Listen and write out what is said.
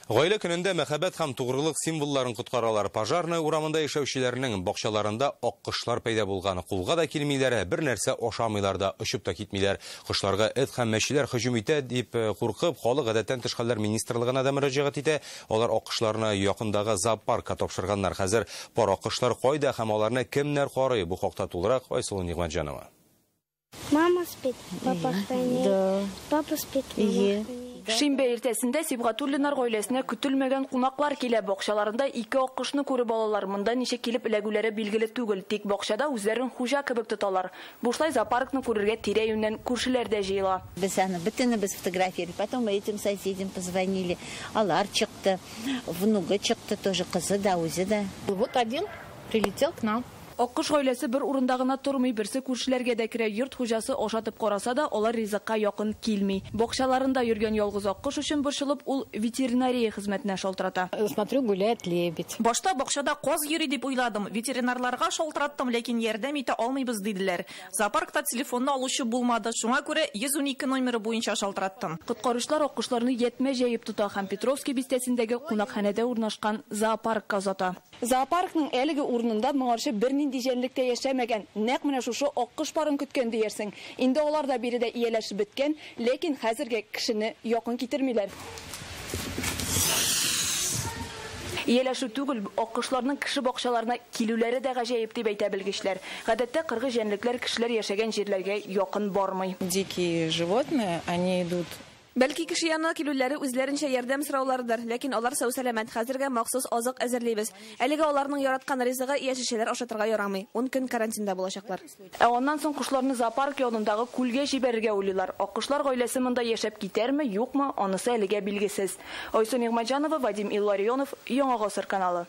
Гаилә көнендә мәхәббәт һәм тугрылык символларын коткаралар. Пожарная урамында яшәүчеләрнең бакчаларында аккошлар пәйда булган. Кулга да килмиләр, бер нәрсә ашамыйлар да, очып та китмиләр. Кошларга эт һәм мәчеләр һөҗүм итә, дип куркып, халык Гадәттән тыш хәлләр министрлыгына да мөрәҗәгать итә. Алар аккошларны якындагы зоопаркка тапшырганнар. Хәзер пар аккошлар кайда һәм аларны кемнәр карый? Бу хакта тулырак Айсылу Нигъмәтҗанова. Мама спит, папа хранит, папа спит, мама хранит. Шимбә иртәсендә Сибгатуллинар гаиләсенә көтелмәгән кунаклар килә. Бакчаларында ике аккошны күреп алалар. Монда ничек килеп эләгүләре билгеле түгел, тик бакчада үзләрен хуҗа кебек тоталар. Бушлай зоопаркны күрергә тирә-юньнән күршеләр дә җыела. Без аны бөтенебез фотографировали. Потом этим соседям позвонили. Алар чыкты. Внугы чыкты тоже, кызы да, үзе дә. Вот один прилетел к нам. Аккош гаиләсе бер урында гына тормый, берсе күршеләргә дә керә. Йорт хуҗасы ашатып караса да, алар ризыкка якын килми. Бакчаларында йөргән ялгыз аккош өчен борчылып, ул ветеринария хезмәтенә шалтырата. Смотрю, гуляет лебедь. Башта бакчада каз йөри дип уйладым. Ветеринарларга шалтыраттым, ләкин ярдәм итә алмыйбыз, диделәр. Зоопаркта телефонны алучы булмады, шуңа күрә 112 номеры буенча шалтыраттым. Коткаручылар аккошларны ятьмә җәеп тота һәм Петровский бистәсендәге кунакханәдә урнашкан зоопаркка озата. Зоопаркның әлеге урынында моңарчы бернинди җәнлек тә яшәмәгән, нәкъ менә шушы аккош парын көткән диярсең. Инде алар да биредә ияләшеп беткән, ләкин хәзергә кешене якын китермиләр. Ияләшү түгел, аккошларның кеше бакчаларына килүләре дә гаҗәеп, дип әйтә белгечләр. Гадәттә кыргый җәнлекләр кешеләр яшәгән җирләргә якын бармый. Дикие животные, они идут. Бәлки, кеше янына килүләре үзләренчә ярдәм сорауларыдыр, ләкин алар сау-сәламәт, хәзергә махсус азык әзерлибез. Әлегә аларның яраткан ризыгы, яшелчәләр ашатырга ярамый. Ун көн карантинда булачаклар. Ә аннан соң кошларны зоопарк янындагы күлгә җибәрергә уйлыйлар. Аккошлар гаиләсе монда яшәп китәрме, юкмы, анысы әлегә билгесез. Айсу Нигъмәтҗанова, Вадим Илларионов, Яңа гасыр каналы.